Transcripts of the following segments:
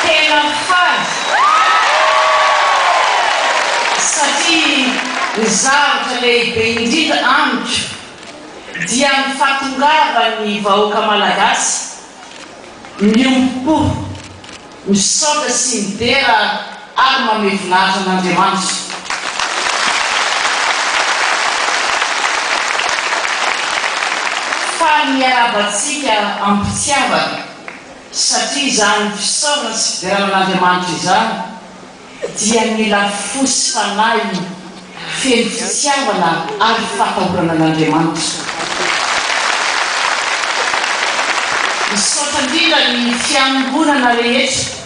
Tena faly satria ny zavatra lehibe indrindra amiko dia ny fahatongavan'ny vahoaka malagasy miombom-po. Misaotra sy midera ary mamehy voninahitra an'Andriamanitra. Faly miarahaba antsika am-pitiavana, satria izany fisaorana sy fiderana an'Andriamanitra izany. dia ny lafosi fanahy feno fitiavana ary fatahorana an' Andriamanitra. Misaotra indrindra ny Fiangonana rehetra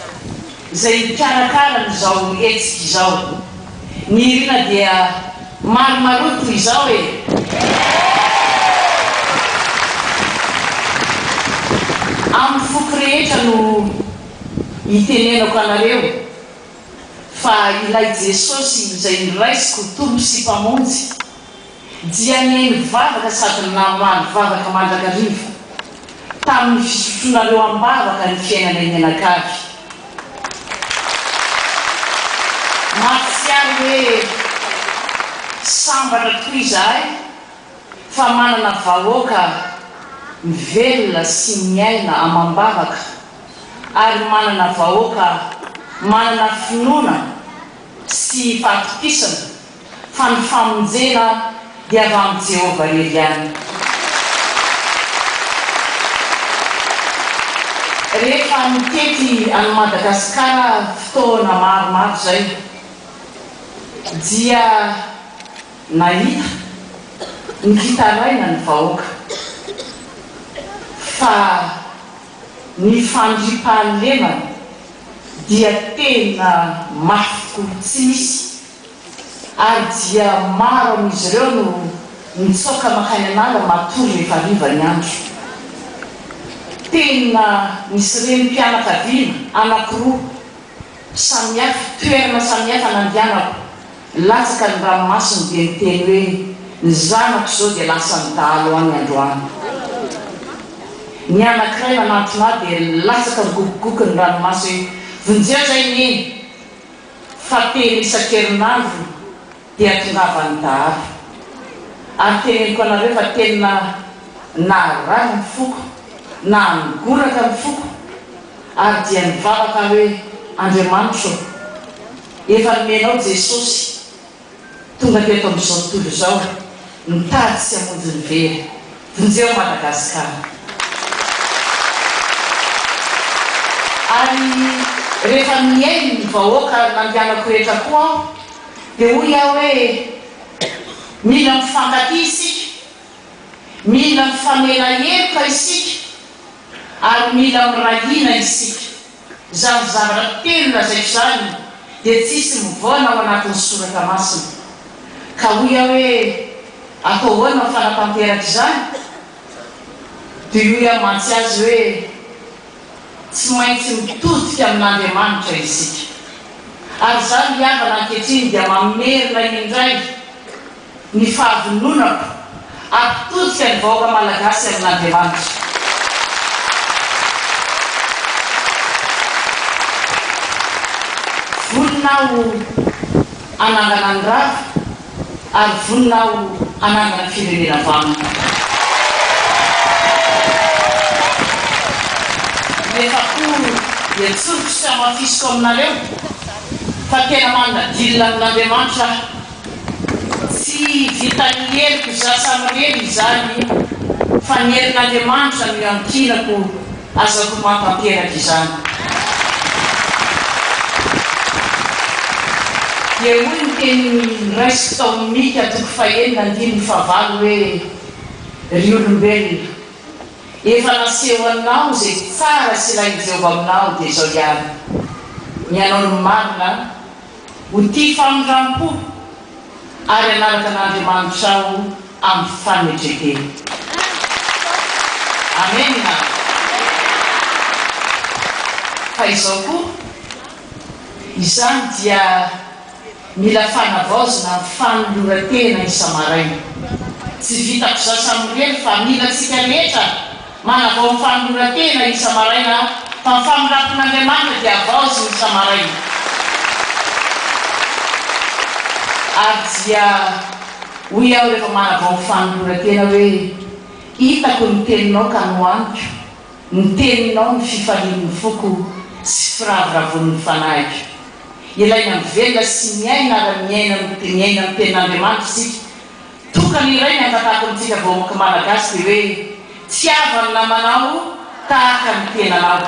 izay mpikarakara an' izao hetsika izao. Ny irina dia maromaroa toy izao e! Amin' ny foko rehetra no. Itenenako anareo, fa ilay Jesosy izay noraisiko ho Tompo sy Mpamonjy, dia nihaino vavaka sady namaly vavaka mandrakariva, tamin'ny fisotronareo am-bavaka ny fiainanay mianakavy. Mahatsiaro hoe sambatra tokoa izahay, Fa manana vahoaka mivelona sy miaina amam-bavaka ary manana vahoaka manana finoana sy fahatokisana fa ny famonjena dia avy amin'i Jehovah irery ihany. Rehefa nitety an'i Madagasikara fotoana maromaro izay dia. Nahita ny fitaraina ny vahoaka fa ny fandriampahalemana dia tena mafy toy tsy misy ary dia maro amin'izy ireo no mitsoaka mankany an'ala matory rehefa hariva ny andro. Tena nisy renim-pianakaviana anankiroa samihafa, toerana samihafa nandianako. Latsaka ny ranomasony dia niteny hoe, Ny zanako izao dia lasan'ny dahalo any androany. Ny anankiray nanantona ahy dia nilatsaka migogogoky ny ranomaso hoe, Vonjeo izay Neny fa telo isan-kerinandro dia tongavan'ny dahalo. Ary teneniko anareo fa tena narary ny foko, nangoraka ny foko ary dia nivavaka aho hoe, Andriamanitro ô! Efa nomenao Jesosy Tonga teto amin'izao tontolo izao Mitady sy hamonjy ny very Vonjeo Madagascar Ary rehefa mihaino ny vahoaka nandianako rehetra koa aho Dia hoy aho hoe Mila mifankatia isika Mila mifanela heloka isika Ary mila miray hina isika. Izany zavatra telo lazaiko izany dia tsisy mivaona ao anatin'ny soratra masina. Ka hoy aho hoe, atao ahoana ny fanatanteraka izany? Dia hoy aho mantsy azy hoe, tsy maintsy mitodika amin'Andriamanitra isika. Ary izaho ry havana ankehitriny dia mamerina indray. ny fahavononako hampitodika ny vahoaka Malagasy amin'Andriamanitra. Vonona aho hanangana ny rava ary vonona aho hanangana firenena vaovao. Nefa koa dia tsoriko sy hamafisiko aminareo fa tena manana deal amin'Andriamanitra aho. Tsy vitan'ny heriko za samirery izany io fa ny herin'Andriamanitra no iankinako azako mahatanteraka izany. Dia hoy ny tenin'ny raisiko tao amin'ny Mika toko fahenina andininy fahavalo hoe, Ry olombelona, efa nasehonao izay tsara sy ilain'i Jehovah aminao dia izao ihany, ny hanao ny marina, Ho tia famindram-po ary hanaraka an'Andriamanitra aho amin'ny fanetren-tena. Amena. Fa izao koa, izany dia mila fanavaozana amin'ny fanoloran-tena isa-maraina. Tsy vitako za samirery fa mila antsika rehetra. Manavao ny fanoloran-tena isa-maraina aho, fa ny famindrampon'Andriamanitra dia havaoziny isa-maraina. Ary dia hoy aho rehefa manavao ny fanoloran-tena hoe, Hitako ny Teninao ka nohaniko, ny Teninao no fifalian'ny foko sy firavoravoan'ny fanahiko. Ilaina mivelona sy miaina ara-miaina ny Tenin'Andriamanitra isika Tokana iray ny angatakontsika vahoaka Malagasy dia hoe tiava ny namanao tahaka ny tenanao.